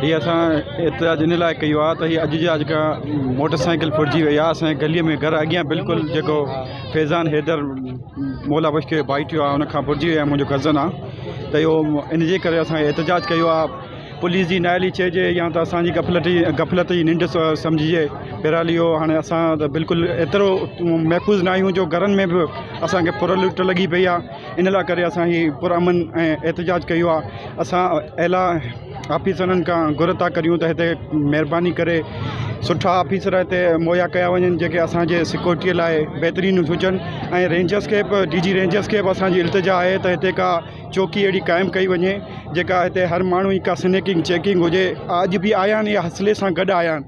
هي اسان احتجاج ان لاء ڪيو آهي ته هي اڄ جا جيڪا موٽر سائيڪل ڦرجي وئي آهي اسان جي گلي ۾ گهر اڳيان بلڪل جيڪو فيضان حيدر مولا بخش کي ڀائٽيو آهي ان کان ڦرجي وئي آهي منهنجو ڪزن آهي ته اهو ان جي ڪري اسان احتجاج ڪيو آهي پوليس جي نااهلي چئجي يا ته اسانجي غفلت جي غفلت جي ننڊ سمجهجي بهرحال اهو هاڻي اسان ته بلڪل ايترو محفوظ ناهيون جو گهرن ۾ به اسانکي ڦر لٽ لڳي پئي آهي ان لاء ڪري اسان هي پرامن ۽ احتجاج ڪيو آهي اسان اعليٰ آفيسرن کان گهر ٿا ڪريون ته هتي مهرباني ڪري سٺا آفيسر هتي مهيا ڪيا وڃن جيڪي اسانجي سڪيورٽي لاء بهترين هجن ۽ رينجرس کي به ڊي جي رينجرس کي به اسانجي التجا آهي ته هتي ڪا چوڪي اهڙي قائم ڪئي وڃي جيڪا هتي هر ماڻهو جي ڪا سنيڪنگ چيڪنگ هجي اڄ به آيا آهن اي حصلي سان گڏ آيا آهن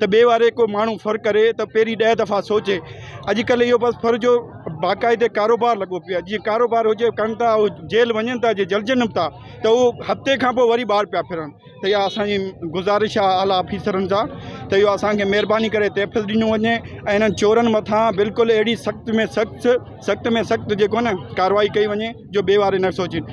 ته ٻئي واري ڪو ماڻهو فر ڪري ته پهرين ڏهه دفعا سوچي اڄڪلهه اهو بس فر جو باقاعدي ڪاروبار لڳو پيو آهي جيئن ڪاروبار هجي ڪن ٿا اهو جيل وڃن ٿا جي جلجن به ٿا ته اهو هفتي کان پوء وري ٻاهر پيا ڦرن ته اها اسانجي گذارش آهي اعليٰ آفيسرن سان ته اهو اسانکي مهرباني ڪري تحفظ ڏنو وڃي ۽ انهن چورن مٿان بلڪل اهڙي سخت ۾ سخت سخت ۾ سخت جيڪو نه ڪاروائي ڪئي وڃي جو ٻئي واري نه سوچين